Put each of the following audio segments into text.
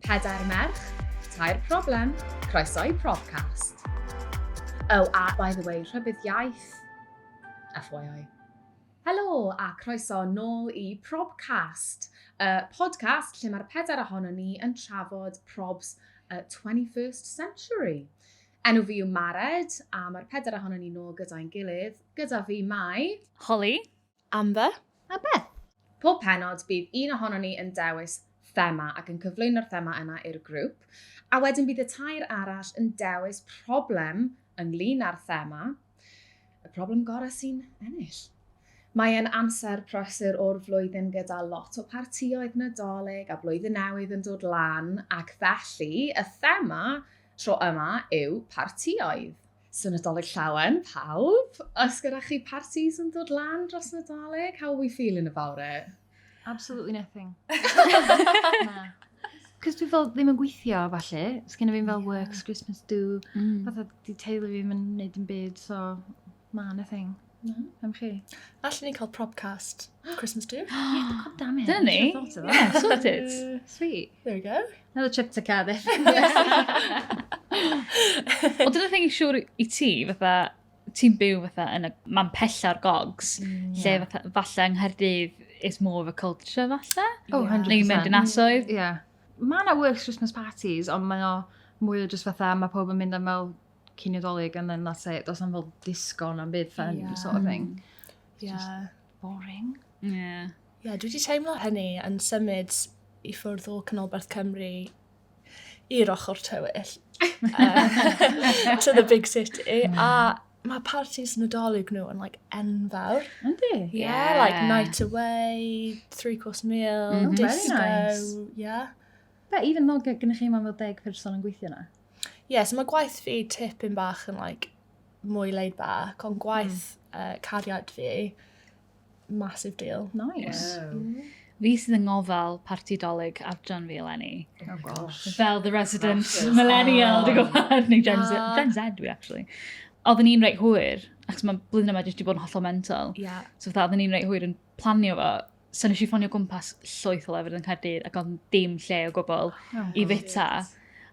Pedair merch, tair problem, croeso i Probcast. Oh, a by the way, rhybudd iaith. FYI. Helo a croeso nôl i Probcast, y podcast lle mae'r pedair ohono ni yn trafod probs y 21st century. Enw fi yw Mared, a mae'r pedair ohono ni nôl gyda'n gilydd. Gyda fi mae... Holly. Amber. A Beth. Pob pennod, bydd un ohonon ni yn dewis thema ac yn cyflwyno'r thema yna i'r grŵp, a wedyn bydd y tair arall yn dewis problem ynglyn â'r thema, y problem gorau sy'n ennill. Mae e'n amser prysur o'r flwyddyn gyda lot o partioedd Nadolig a Blwyddyn Newydd yn dod lan ac felly y thema tro yma yw partioedd. So Nadolig Llawen, pawb! Os gyda chi parties yn dod lan dros Nadolig, how are we feeling about it? Absolutely nothing. Na. Cos dwi fel ddim yn gweithio, falle. Os gen i fi'n fel works, Christmas do. Mm. Fatha, di teulu fi ddim yn neud yn byd, so, na, nothing. Na, am chi. Allen ni cael propcast Christmas do? Yeah, god damn it. Dyna ni. Should've thought of that. Yeah, sorted. Uh, Sweet. There we go. Another trip to Cardiff. Wel, dyna thing i siŵr i ti, fatha, ti'n byw fatha yn y man pella o'r gogs, Mm, lle fatha, falle yng Nghaerdydd is more of a culture falle? Oh, Ie. 100%. Neu mynd yn asoedd? Yeah. Mae yna works Christmas parties, ond mae o mwy o just fatha, mae pob yn mynd am fel cyn Nadolig and then that's it. Does na'm fel disco na'm byd fun yeah. sort of thing. Mm. Yeah. Just boring. Yeah. Yeah, dwi wedi teimlo hynny yn symud i ffwrdd o Canolbarth Cymru i'r ochr tywyll. uh, to the big city. Mm. A mae parties Nadolig nhw yn like enfawr. Yndi? Yeah, yeah, like night away, three course meal, mm -hmm. disco. Very nice. Yeah. But even though gennych chi ma'n fel deg person yn gweithio na? Ie, yeah, so mae gwaith fi tipyn bach yn like, mwy laid back, ond gwaith mm. uh, cariad fi, massive deal. Nice. Yeah. Mm. Fi sydd yn ngofal parti dolyg adran fi eleni. Oh gosh. Fel the resident Crashes. millennial, oh. dwi'n gwybod, neu Gen Z, ah. Gen Z dwi actually. Oedden ni'n reit hwyr, ac mae blwyddyn yma jyst wedi bod yn hollol mental. Yeah. So fatha, oedden ni'n reit hwyr yn planio fo, so nes i ffonio gwmpas llwyth o lefydd yn Caerdydd ac ond dim lle o gwbl oh, i fita.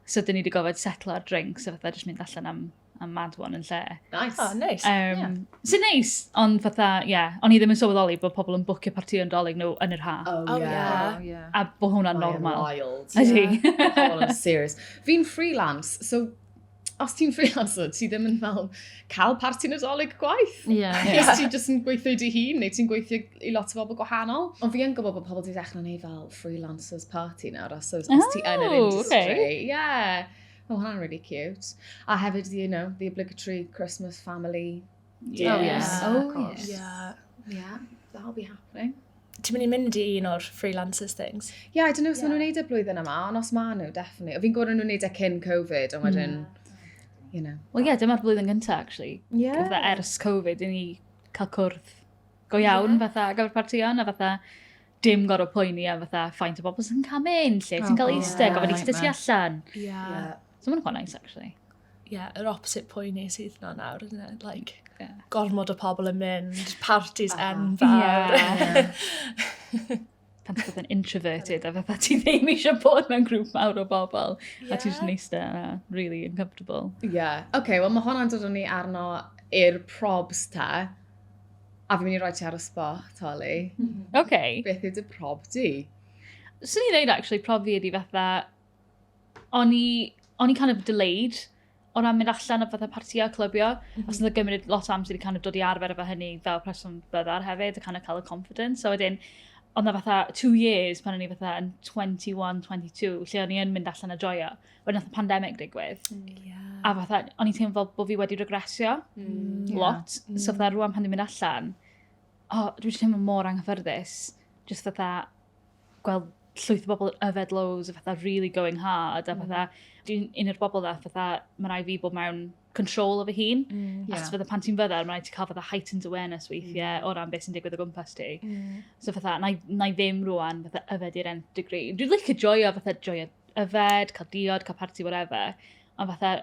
So dyn ni wedi gofod setlo ar drinks a fatha jyst mynd allan am, am mad one yn lle. Nice. Oh, nice. Um, yeah. Sy'n neis, ond fatha, ie, yeah, o'n i ddim yn sylweddoli bod pobl yn bwcio parti o'n dolyg nhw yn yr ha. Oh, oh yeah. yeah. Oh, yeah. A bod hwnna'n normal. Mae'n wild. Ydy. Yeah. serious. Fi'n freelance, so os ti'n freelancer, ti ddim yn fel cael parti nadolig gwaith. Ie. Yeah. yeah. Ti'n just yn gweithio i dy hun, neu ti'n gweithio i lot o bobl gwahanol. Ond fi yn gwybod bod pobl wedi dechrau gwneud fel freelancers party nawr, os, os, os ti yn yr oh, industry. Okay. Yeah. Oh, hwnna'n really cute. A hefyd, you know, the obligatory Christmas family Yeah. Oh, yes. Oh, of course. Yeah. Yeah, that'll be happening. Ti'n mynd i mynd i un o'r freelancers things? Yeah, I don't know os yeah. maen nhw'n neud y e blwyddyn yma, ond os maen nhw, definitely. O fi'n gwybod nhw'n neud e cyn Covid, ond wedyn, mm. you know. Wel, ie, yeah, dyma'r blwyddyn gyntaf, actually. Yeah. Fatha ers Covid, i ni cael cwrdd go iawn, yeah. fatha, gyfer partïon, a fatha, dim gorau poeni a fatha ffaint o bobl sy'n cael mynd, lle ti'n cael oh, eistedd, gofyn eistedd ti allan. Yeah. yeah. So mae'n chwan nice, actually. Ie, yeah, yr opposite poeni sydd na nawr, isn't it? Like, yeah. gormod o pobl yn mynd, parties uh -huh. enfawr. Yeah. pan ti'n bod yn introverted a fatha ti ddim eisiau bod mewn grŵp mawr o bobl yeah. a ti'n just neista a really uncomfortable. Ie. Yeah. OK, okay, wel mae hwnna'n dod o'n ni arno i'r probs ta. A fi'n mynd i roi ti ar y spot, Holly. Mm -hmm. OK. Beth ydy prob di? Swn i'n dweud actually prob fi ydi fatha o'n i, o'n i kind of delayed o ran mynd allan o fatha partio, clybio. Mm -hmm. Os yna gymryd lot o amser i kind of dod i arfer efo hynny fel person byddar hefyd, a kind of cael y confidence. So wedyn, ond na fatha two years pan o'n i fatha yn 21, 22, lle o'n i yn mynd allan a joio. Wedyn nath y pandemic digwydd. Mm. Yeah. A fatha, o'n i'n teimlo fel bod fi wedi regresio mm. lot. Yeah. Mm. So fatha rwan pan dwi'n mynd allan, oh, dwi'n teimlo mor anghyffyrddus. Just fatha, gweld llwyth o bobl yn yfed loads a fatha really going hard a fatha, mm. dwi'n un o'r bobl dda fatha, mae rai fi bod mewn control o fy hun. Mm, yeah. Achos fydda pan ti'n fyddar, mae'n rhaid ti cael fydda heightened awareness weithiau mm. o ran beth sy'n digwydd o gwmpas ti. Mm. So fatha, na, na i ddim rwan fatha yfed i'r end degree. Dwi'n licio joio fatha joio yfed, cael diod, cael party, whatever. Ond fatha,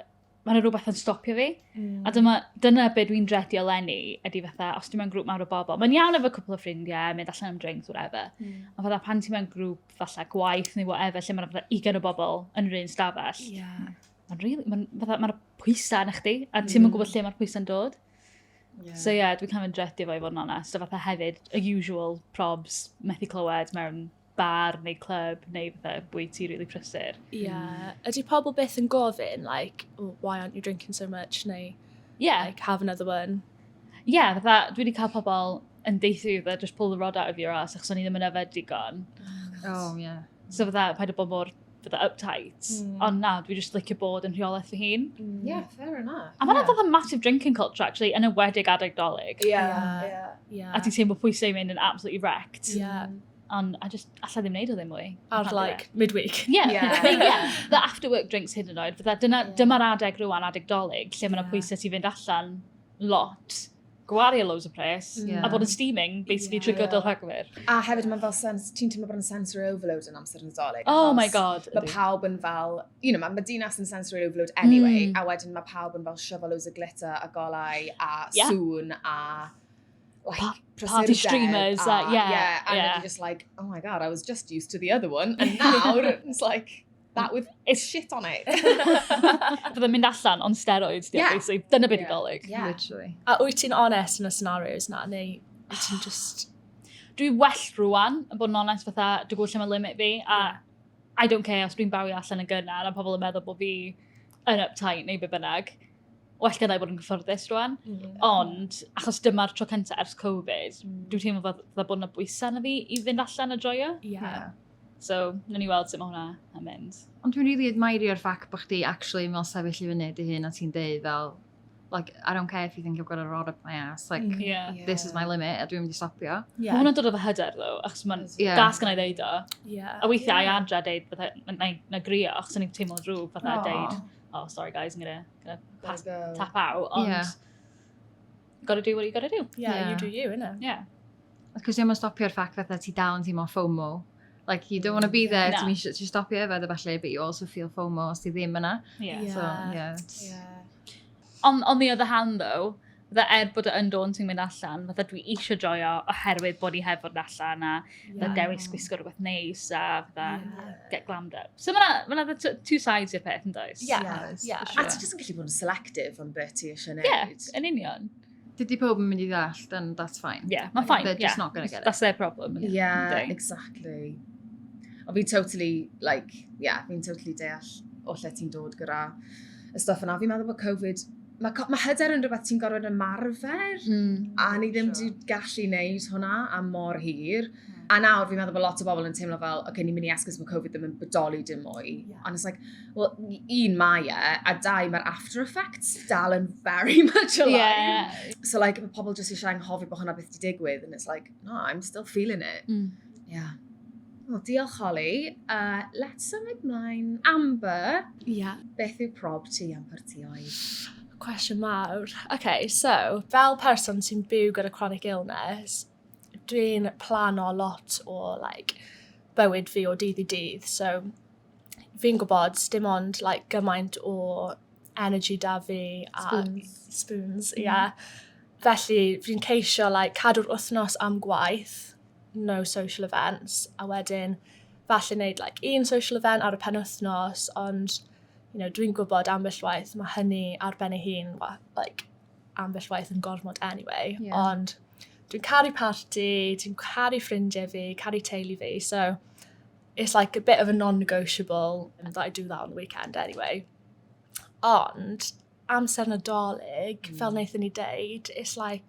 mae yna rhywbeth yn stopio fi. Mm. A dyma, dyna beth dwi'n dredio lenni, ydy fatha, os ti'n mewn grŵp mawr o bobl, mae'n iawn efo cwpl o ffrindiau, mynd allan am drinks, whatever. Mm. Ond fatha pan ti'n mewn grŵp, fatha gwaith neu whatever, lle mae'n fatha ugen o bobl yn yr un stafell. Yeah. Mae'n really, mae'n fatha, mae'r pwysau yna chdi, a ti'n mm. gwybod lle mae'r pwysau'n dod. Yeah. So ie, yeah, dwi'n cael mynd dredio fo i fod yn onest, a fatha hefyd, y usual probs, methu clywed mewn bar neu clwb neu fatha bwyty rili really prysur. Ie. Yeah. Mm. Ydy pobl beth yn gofyn, like, oh, why aren't you drinking so much, neu yeah. like, have another one? Ie, yeah, fatha, dwi wedi cael pobl yn deithu i fatha, just pull the rod out of your ass, achos o'n i ddim yn yfed digon. Oh, oh yeah. So fatha, paid o bod mor fatha uptight. Mm. Ond na, dwi just licio bod yn rheolaeth fy hun. Mm. Yeah, fair enough. A mae'n yeah. fatha massive drinking culture, actually, yn y wedig adeg dolyg. Yeah, yeah. yeah. yeah. A ti'n teimlo pwysau mynd yn absolutely wrecked. Yeah. Mm. And I just, alla ddim neud o ddim mwy. Ar like midweek. Yeah. yeah. I mean, yeah. The after work drinks hyd yn oed. Fydda, dyna, yeah. dyma'r adeg rwan, adeg dolyg, lle yeah. mae'n pwysau ti fynd allan lot gwario loads o pres, yeah. a bod yn steaming, basically, yeah. trwy gydol rhagfyr. A hefyd mae'n fel sens, ti'n teimlo bod yn sensory overload yn amser nadolig. Oh my god. Mae pawb yn fel, you know, mae ma dinas yn sensory overload anyway, mm. a wedyn mae pawb yn fel siofo loads o glitter a golau a yeah. sŵn a like pa party streamers a, a yeah, yeah, and yeah. just like, oh my god, I was just used to the other one, and now it's like, that with it's shit on it. Fydde mynd allan on steroids, yeah. basically. Dyna beth yeah. dolyg. Yeah. Literally. A wyt ti'n honest yn y scenarios na, neu wyt ti'n just... Dwi well rwan, yn bod yn honest fatha, dwi gwybod lle mae limit fi, a yeah. I don't care os dwi'n bawi allan yn gynnar, a pobl yn meddwl bod fi yn uptight neu be bynnag. well gyda i bod yn gyffyrddus rwan. Mm. Ond, achos dyma'r tro cyntaf ers Covid, mm. dwi'n teimlo fod dda bod yna bwysau na fi i fynd allan a joio. Yeah. yeah. So, na ni weld sut mae hwnna yn mynd. Ond dwi'n rili really admire o'r ffac bod chdi actually yn fel sefyll i fyny dy hun a ti'n deud fel, like, I don't care if you think I've got a rod up my ass, like, mm, yeah. yeah. this is my limit, a dwi'n mynd i stopio. Yeah. Mae hwnna'n dod o fy hyder, ddo, achos mae'n yeah. das gan ei ddeud o. Yeah. A weithiau yeah. i adra deud, na, na grio, achos o'n i'n teimlo drwg, fatha oh. deud, oh, sorry guys, I'm gonna, gonna pass, go. tap out, ond yeah. gotta do what you gotta do. Yeah, yeah. you do you, innit? Yeah. Cos ddim yn stopio'r ffact fatha ti dal yn teimlo FOMO. Like, you don't want to be there, no. ti'n eisiau ti stopio efo efo falle, but you also feel FOMO os ti ddim yna. Yeah. yeah. So, yeah. yeah. On, on the other hand, though, Fydda er bod o yn dawn sy'n mynd allan, fydda dwi eisiau joio oherwydd bod i hefod allan a fydda yeah. dewis gwisgo rhywbeth neis a fydda yeah. get glammed up. So mae yna ma two sides i'r peth yn does? Yeah. Yes, yeah. Sure. A ti jyst yn gallu bod yn selective o'n beth ti eisiau gwneud. Yeah, yn union. Dydy pob yn mynd i ddall, then that's fine. Yeah, mae'n fine. They're yeah. just not going to get it. That's their problem. Yeah, yeah exactly. Ond fi'n totally, like, yeah, fi'n totally deall o lle ti'n dod gyda y stuff yna. Fi'n meddwl bod Covid mae, mae hyder yn rhywbeth ti'n gorfod ymarfer, mm. a ni ddim wedi gallu wneud hwnna am mor hir. Mm. A nawr, fi'n meddwl bod lot o bobl yn teimlo fel, oce, okay, ni'n mynd i esgus mae Covid ddim yn bodoli dim mwy. Yeah. And it's like, well, un mae e, a dau, mae'r after effects dal yn very much alive. Yeah. So like, mae pobl jyst eisiau anghofio bod hwnna beth di digwydd, and it's like, no, I'm still feeling it. Mm. Yeah. Wel, diolch Holly. Uh, let's symud mlaen. Amber, yeah. beth yw prob ti am partioedd? Cwestiwn mawr. Okay, so, fel person sy'n byw gyda chronic illness, dwi'n plano lot o like, bywyd fi o dydd i dydd. So, fi'n gwybod dim ond like, gymaint o energy da fi. A, spoons. Spoons, ie. Mm. Yeah. Felly, fi'n ceisio like, cadw'r wythnos am gwaith no social events, a wedyn falle wneud like, un social event ar y pen wythnos, ond you know, dwi'n gwybod ambell waith mae hynny ar ben ei hun, like, ambell waith yn gormod anyway, yeah. ond dwi'n caru party, dwi'n caru ffrindiau fi, caru teulu fi, so it's like a bit of a non-negotiable that I do that on the weekend anyway. Ond, amser nadolig, mm. fel wnaethon ni deud, it's like,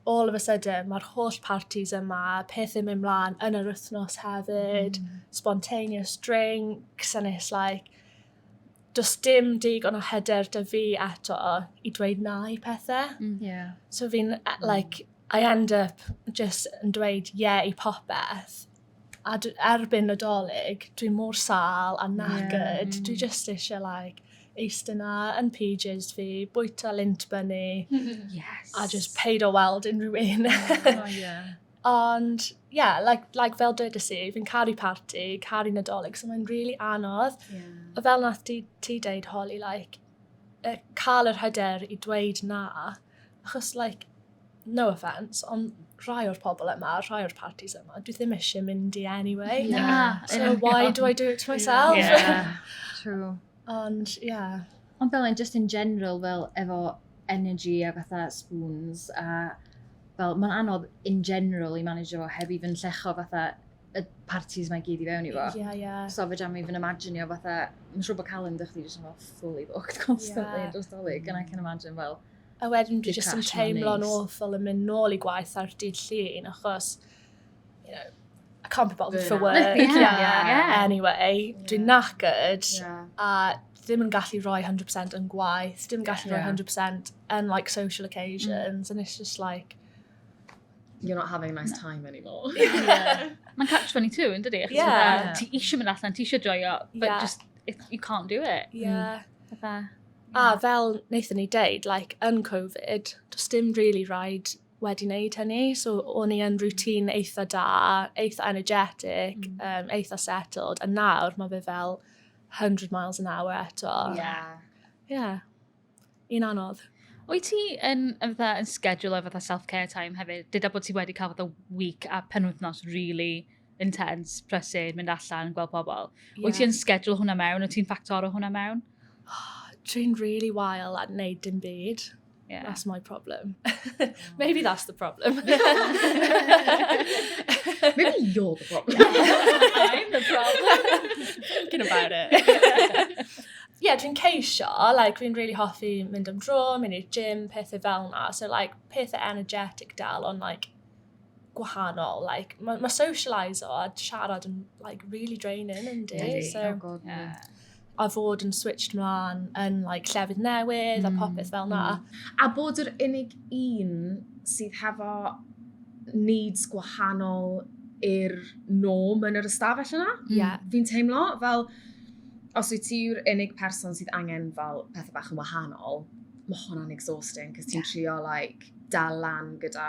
all of a sudden, mae'r holl parties yma, pethau mynd mlaen yn yr wythnos hefyd, mm. spontaneous drinks, and it's like, does dim dig ond o hyder dy fi eto i dweud na i pethau. Mm. Yeah. So fi'n, eh, like, I end up just yn dweud yeah i popeth, A dw, erbyn Nadolig, dwi mor sal a knackered. Yeah. Dwi just eisiau, like, eistedd na yn pages fi, bwyta lint bunny. yes. A just paid o weld unrhyw un. oh, yeah. Ond, yeah, like, like fel dweud si, fi'n caru party, caru nadolig, so mae'n really anodd. Yeah. A fel nath ti, ti deud, Holly, like, uh, cael yr hyder i dweud na, achos, like, no offence, ond rhai o'r pobl yma, rhai o'r parties yma, dwi ddim eisiau mynd i anyway. Yeah. So why do I do it to myself? Yeah, true. Ond, ie. Yeah. Ond fel yn just in general, fel efo energy a fatha spoons a fel, mae'n anodd in general i manager fo heb i fy'n llecho fatha y parties mae gyd i fewn i fo. Yeah, yeah. So fe jam i fy'n imagine o fatha, mae'n siŵr bod calendar chdi jyst yn fel fully booked constantly yeah. dros dolyg, and I can imagine fel, well, A wedyn dwi jyst yn teimlo'n awful yn mynd nôl i gwaith ar dydd llun, achos, you know, I can't be bothered for work. yeah, yeah, yeah. Anyway, yeah. dwi'n knackered, yeah. a ddim yn gallu rhoi 100% yn gwaith, ddim yn gallu yeah. rhoi 100% yn like social occasions, mm. and it's just like, you're not having a nice time anymore. yeah. Mae'n catch 22 yn dydi? Yeah. Ti eisiau mynd allan, ti eisiau joio, but yeah. just, it, you can't do it. Yeah. Mm. A fel wnaethon ni deud, like, yn Covid, does dim really rhaid wedi wneud hynny. So, o'n i yn routine eitha da, eitha energetic, mm. um, eitha settled. A nawr, mae fe fel 100 miles an hour eto. Yeah. Yeah. Un anodd. Wyt ti yn, yn, fatha, yn schedule o fatha self-care time hefyd? Dyda bod ti wedi cael fatha week a penwythnos really intense, prysur, mynd allan, gweld pobl. Yeah. Wyt ti'n schedule hwnna mewn? Wyt ti'n ffactor o hwnna mewn? Dwi'n really wael at wneud dim byd. Yeah. That's my problem. Maybe that's the problem. Maybe you're the problem. I'm the problem. Thinking about it. yeah, dwi'n ceisio, like, dwi'n really hoffi mynd am dro, mynd i'r gym, pethau fel na. So, like, pethau energetic dal, ond, like, gwahanol. Like, mae ma socialise o a siarad yn like, really draining yn di. Yeah, so, oh God, yeah. A fod yn switched mlaen yn like, llefydd newydd mm. a popeth fel na. Mm. A bod yr unig un sydd hefo needs gwahanol i'r norm yn yr ystafell yna. Mm. Yeah. Fi'n teimlo fel, os wyt ti yw'r unig person sydd angen fel pethau bach yn wahanol, mae hwnna'n exhausting, cos ti'n yeah. trio like, dal lan gyda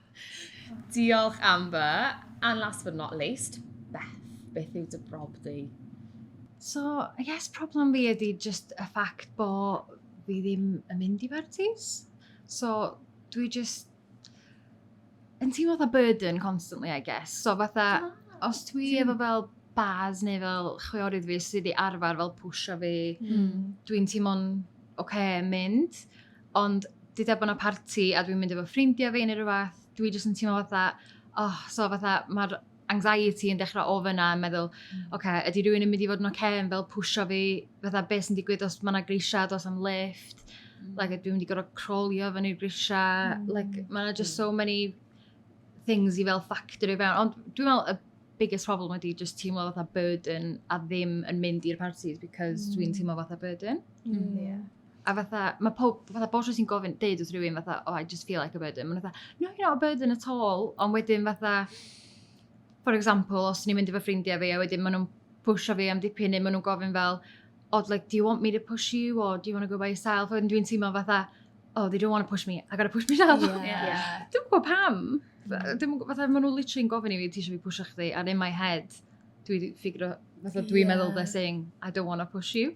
Diolch Amber. And last but not least, Beth, beth yw dy brob di? So, I guess problem fi ydy just y ffact bo fi ddim yn mynd i bartis. So, dwi just yn teimlo fatha burden constantly, I guess. So, fatha, ah, os dwi efo fel bars neu fel chwiorydd fi sydd wedi arfer fel pwysio fi, mm. dwi'n teimlo'n oce okay, mynd. Ond dydw bod yna parti a dwi'n mynd efo ffrindiau fi neu rhywbeth, dwi jyst yn teimlo fatha, oh, so fatha, mae'r anxiety yn dechrau o fyna yn meddwl, mm. oce, okay, ydy rhywun yn mynd i fod yn oce okay, yn fel pwysio fi, fatha beth sy'n digwydd os mae yna grisiau, os am lift, mm. like, dwi'n mynd i gorau crolio fan i'r grisiau, mm. like, mae yna just so many things i fel factor i fewn, ond dwi'n meddwl y biggest problem ydy just teimlo fatha burden a ddim yn mynd i'r parties because mm. dwi'n teimlo fatha burden. Mm. Yeah. A fatha, mae pob, fatha bob tro ti'n gofyn, deud wrth rywun fatha, oh, I just feel like a burden. Mae'n fatha, no, you're not a burden at all. Ond wedyn fatha, for example, os ni'n mynd efo ffrindiau fi, a wedyn maen nhw'n pwysio fi am dipyn, neu maen nhw'n gofyn fel, oh, like, do you want me to push you, or do you want to go by yourself? Wedyn dwi'n teimlo fatha, oh, they don't want to push me, I gotta push myself. Yeah. yeah. Dwi'n gwybod pam. Mm. Dwi'n gwybod, fatha, maen nhw literally yn gofyn i fi, ti eisiau fi pwysio chdi, and in my head, dwi'n ffigro, fatha, dwi'n yeah. meddwl they're saying, I don't want to push you.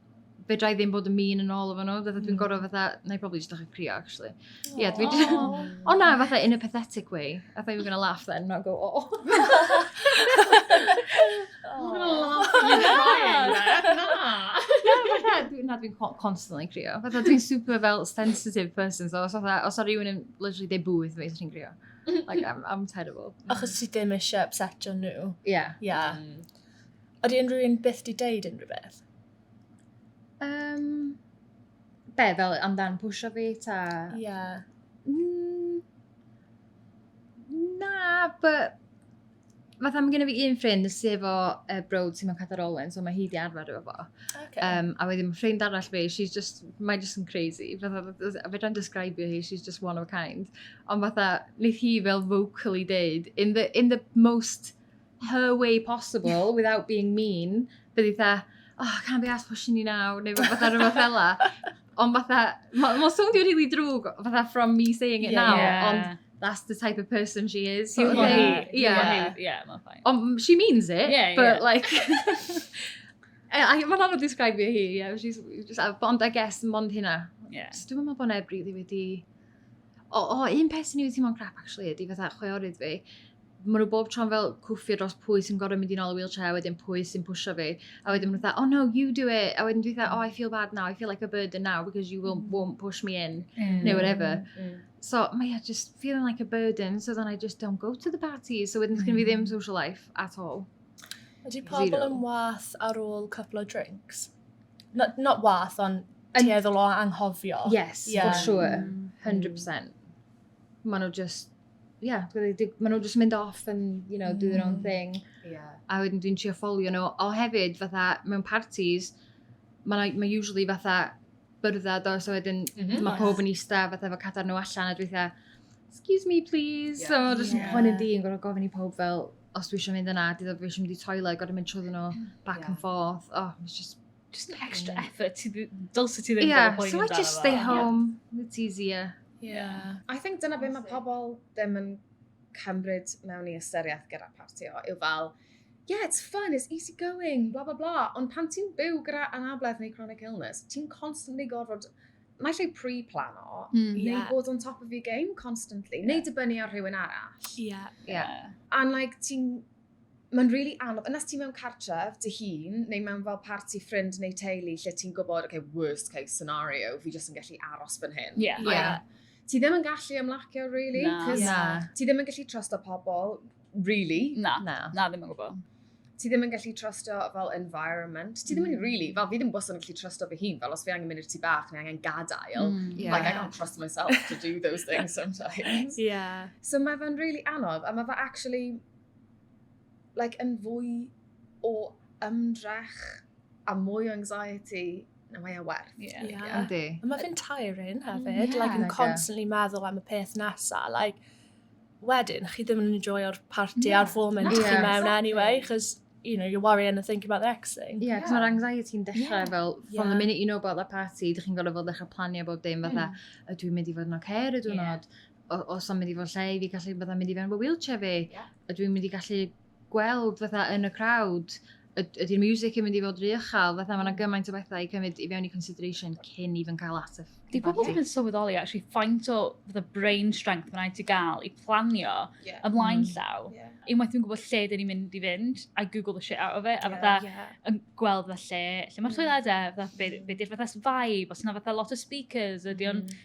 fedra i ddim bod yn mean yn ôl efo nhw. Fatha dwi'n mm. gorau fatha, na i probably just ddechrau crio, actually. Ie, yeah, dwi just... O na, fatha in a pathetic way. I thought you were going to laugh then, not go, oh. I'm going to laugh at you crying there. Na. Na, dwi'n constantly crio. Fatha dwi'n super fel sensitive person, so os fatha, os ar rhywun yn literally deu bwyth fi, dwi'n crio. Like, I'm, I'm terrible. Achos ti ddim eisiau upsetio nhw. Yeah. Yeah. Mm. Oeddi unrhyw un byth di deud unrhyw beth? Yym, be, fel amdan pwysio fi ta? Ie. Yeah. Mm, na, but... Fatha mae gen i fi un ffrind sydd efo uh, brod sy'n mewn cadar olen, so mae hi di arfer efo fo. Okay. Um, a wedyn mae ffrind arall fi, she's just, mae just yn crazy. Fatha, a fe dra'n describio hi, she's just one of a kind. Ond fatha, wneud hi fel vocally deud, in the, in the most her way possible without being mean, bydd i dda, oh, I can't be asked pushing you now, neu fatha rhywbeth fel la. Ond fatha, mae'n ma soundio rili really drwg, fatha from me saying it yeah, now, yeah. ond that's the type of person she is. So, okay, yeah. Yeah, mae'n fine. Ond she means it, yeah, but yeah. like... Mae'n anodd describe hi, yeah, she's just, ond I guess, mond hynna. Yeah. So dwi'n meddwl bod neb rili wedi... O, oh, oh, un peth sy'n ei wedi teimlo'n crap, actually, ydy fatha chweorydd fi. maen nhw bob tro'n fel cwffio dros pwy sy'n gorau mynd i'n ôl y wheelchair, wedyn pwy sy'n pwysio fi. A wedyn maen nhw dweud, oh no, you do it. A wedyn dwi'n dweud, oh, I feel bad now, I feel like a burden now, because you won't, mm. won't push me in, mm. neu whatever. Mm. So, mae yeah, just feeling like a burden, so then I just don't go to the party. So wedyn mm. fi ddim social life at all. Ydy pobl yn wath ar ôl couple of drinks? Not, not wath, ond tueddol o anghofio. Yes, yeah. for sure. 100%. Mm. Maen nhw just ie, maen nhw jyst yn mynd off yn, you know, do their own mm. thing. Yeah. A wedyn dwi'n trio ffolio nhw. O hefyd, fatha, mewn parties, mae ma usually fatha byrddau do, so wedyn mm -hmm. mae pob yn eista fatha fo cadar nhw allan a dwi'n fatha, excuse me please, yeah. so jyst yeah. poen yn di yn gorau gofyn i pob fel, os dwi eisiau mynd yna, dwi eisiau mynd i toilet, gorau mynd trwy nhw back yeah. and forth, oh, it's just Just an extra mm. effort. Dylse ti ddim yeah, bod yn poeni amdano fo. Yeah, so I just stay home. Yeah. It's easier. Yeah. yeah. I think dyna beth mae pobl ddim yn cymryd mewn i ystyriaeth gyda partio yw fel, yeah, it's fun, it's easy going, bla bla bla. Ond pan ti'n byw gyda anabledd neu chronic illness, ti'n constantly gorfod Mae lle pre-plano, mm, neu yeah. bod on top of your game constantly, yeah. neu dibynnu ar rhywun arall. Yeah. yeah. yeah. And like, ti'n mae'n rili really anodd, yna ti mewn cartref dy hun, neu mewn fel parti ffrind neu teulu, lle ti'n gwybod, okay, worst case scenario, fi jyst yn gallu aros fan hyn. Yeah. Like, yeah. Ti ddim yn gallu ymlacio, really, na, cos na. ti ddim yn gallu trust o pobl, really. Na, na, na ddim yn gwybod ti ddim yn gallu trustio fel environment. Ti ddim yn mm. really, fel fi ddim bwysig yn gallu trustio fy hun, fel os fi angen mynd i'r tu bach neu angen gadael. Mm, yeah. Like, I can't trust myself to do those things sometimes. yeah. So mae fe'n really anodd, a mae fe actually, like yn fwy o ymdrech a mwy o anxiety na mae e werth. Ie. Yeah. Yeah. Yndi. A mae fe'n tiring hefyd. Mm, yeah. Like, yn constantly meddwl am y peth nesa. Like, wedyn, chi ddim yn enjoyo'r party yeah. a'r foment yeah. chi mewn anyway, chos you know, you're worrying and thinking about the next thing. Yeah, cos yeah. mae'r anxiety yn dechrau yeah. fel, from yeah. the minute you know about the party, dych chi'n gorfod fel dechrau planio bob dim, fatha, mm. ydw i'n mynd i fod yn oce, okay, ydw i'n yeah. os am mynd i fod lle i fi gallu bod am mynd i fewn fy wheelchair fi. Yeah. Ydw i'n mynd i gallu gweld fatha yn y crowd, ydy'r music yn mynd i fod rhy ychal, fatha mae'n mm. gymaint o bethau i cymryd i fewn i consideration cyn i fy'n cael at y Di pobl ddim yn sylweddoli actually faint o fatha brain strength mae'n rhaid i gael i planio yeah. ymlaen mm. llaw. Yeah. Unwaith dwi'n gwybod lle dyn ni'n mynd i fynd, I google the shit out of it, a fatha yeah, yeah. yn gweld fatha lle, lle mae'r mm. toiledau, fatha be, be di'r fatha vibe, os yna fatha lot o speakers, ydy o'n mm.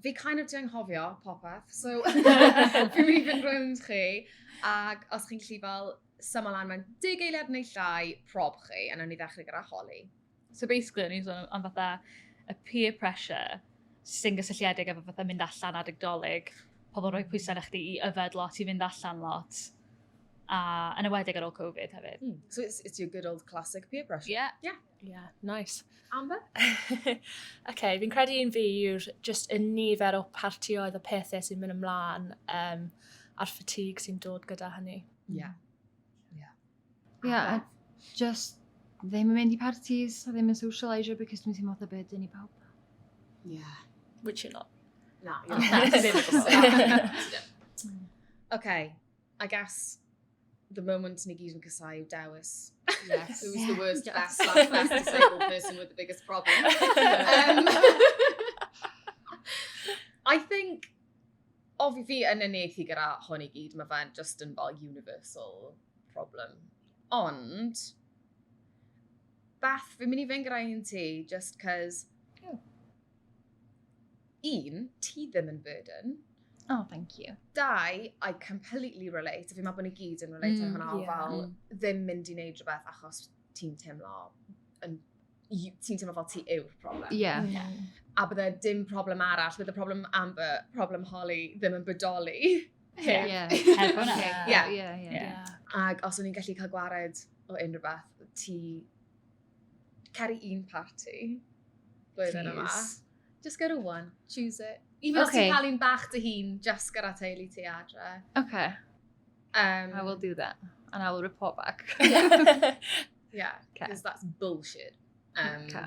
Fi kind of di anghofio popeth, so fi'n mynd i fynd rownd chi, ac os chi'n gallu fel syml lan mewn deg eiliad neu llai, prob chi, a nawn ni ddechrau gyda holi. So basically, o'n i'n sôn am fatha y peer pressure sy'n gysylltiedig efo fatha mynd allan adeg dolyg, pobl rhoi pwysau na chdi i yfed lot, i fynd allan lot, a yn ywedig ar ôl Covid hefyd. Mm. So it's, it's your good old classic peer pressure. Yeah. Yeah. Yeah, nice. Amber? okay, fi'n credu un fi yw'r just y nifer o partioedd a pethau sy'n mynd ymlaen um, a'r ffatig sy'n dod gyda hynny. Ie. Yeah. Ie. Yeah. Yeah, a just ddim yn mynd i parties a ddim yn socialisio because dwi'n teimlo byd dyn ni pawb. Ie. Yeah. Which you're not. Na, you're not. Oce, I guess the moment ni gyd yn casau yw dewis. Yes. Who's yeah. the worst, yes. best, last, best disabled person with the biggest problem? um, I think, ofi fi yn unieithu gyda hwn i gyd, mae fe'n just yn fel universal problem. Ond, Beth, fi'n mynd i fynd gyda un ti, just cos... Oh. un, ti ddim yn burden. Oh, thank you. Dau, I completely relate. Fi'n meddwl bod ni gyd yn relate mm, hwnna, yeah. fel mm. ddim mynd i wneud rhywbeth achos ti'n teimlo yn ti'n teimlo fel ti yw'r problem. Yeah. Mm. yeah. A bydde dim problem arall, bydde problem Amber, problem Holly, ddim yn bodoli. Yeah. yeah. Heb hwnna. Yeah. Yeah. Yeah. Yeah. Ac os o'n i'n gallu cael gwared o unrhyw beth, ti Cer i un party. Blwyddyn yma. Just go to one. Choose it. Even okay. os ti'n cael un bach dy hun, just gyda teulu ti adre. Okay. Um, I will do that. And I will report back. yeah. Because okay. that's bullshit. Um, okay.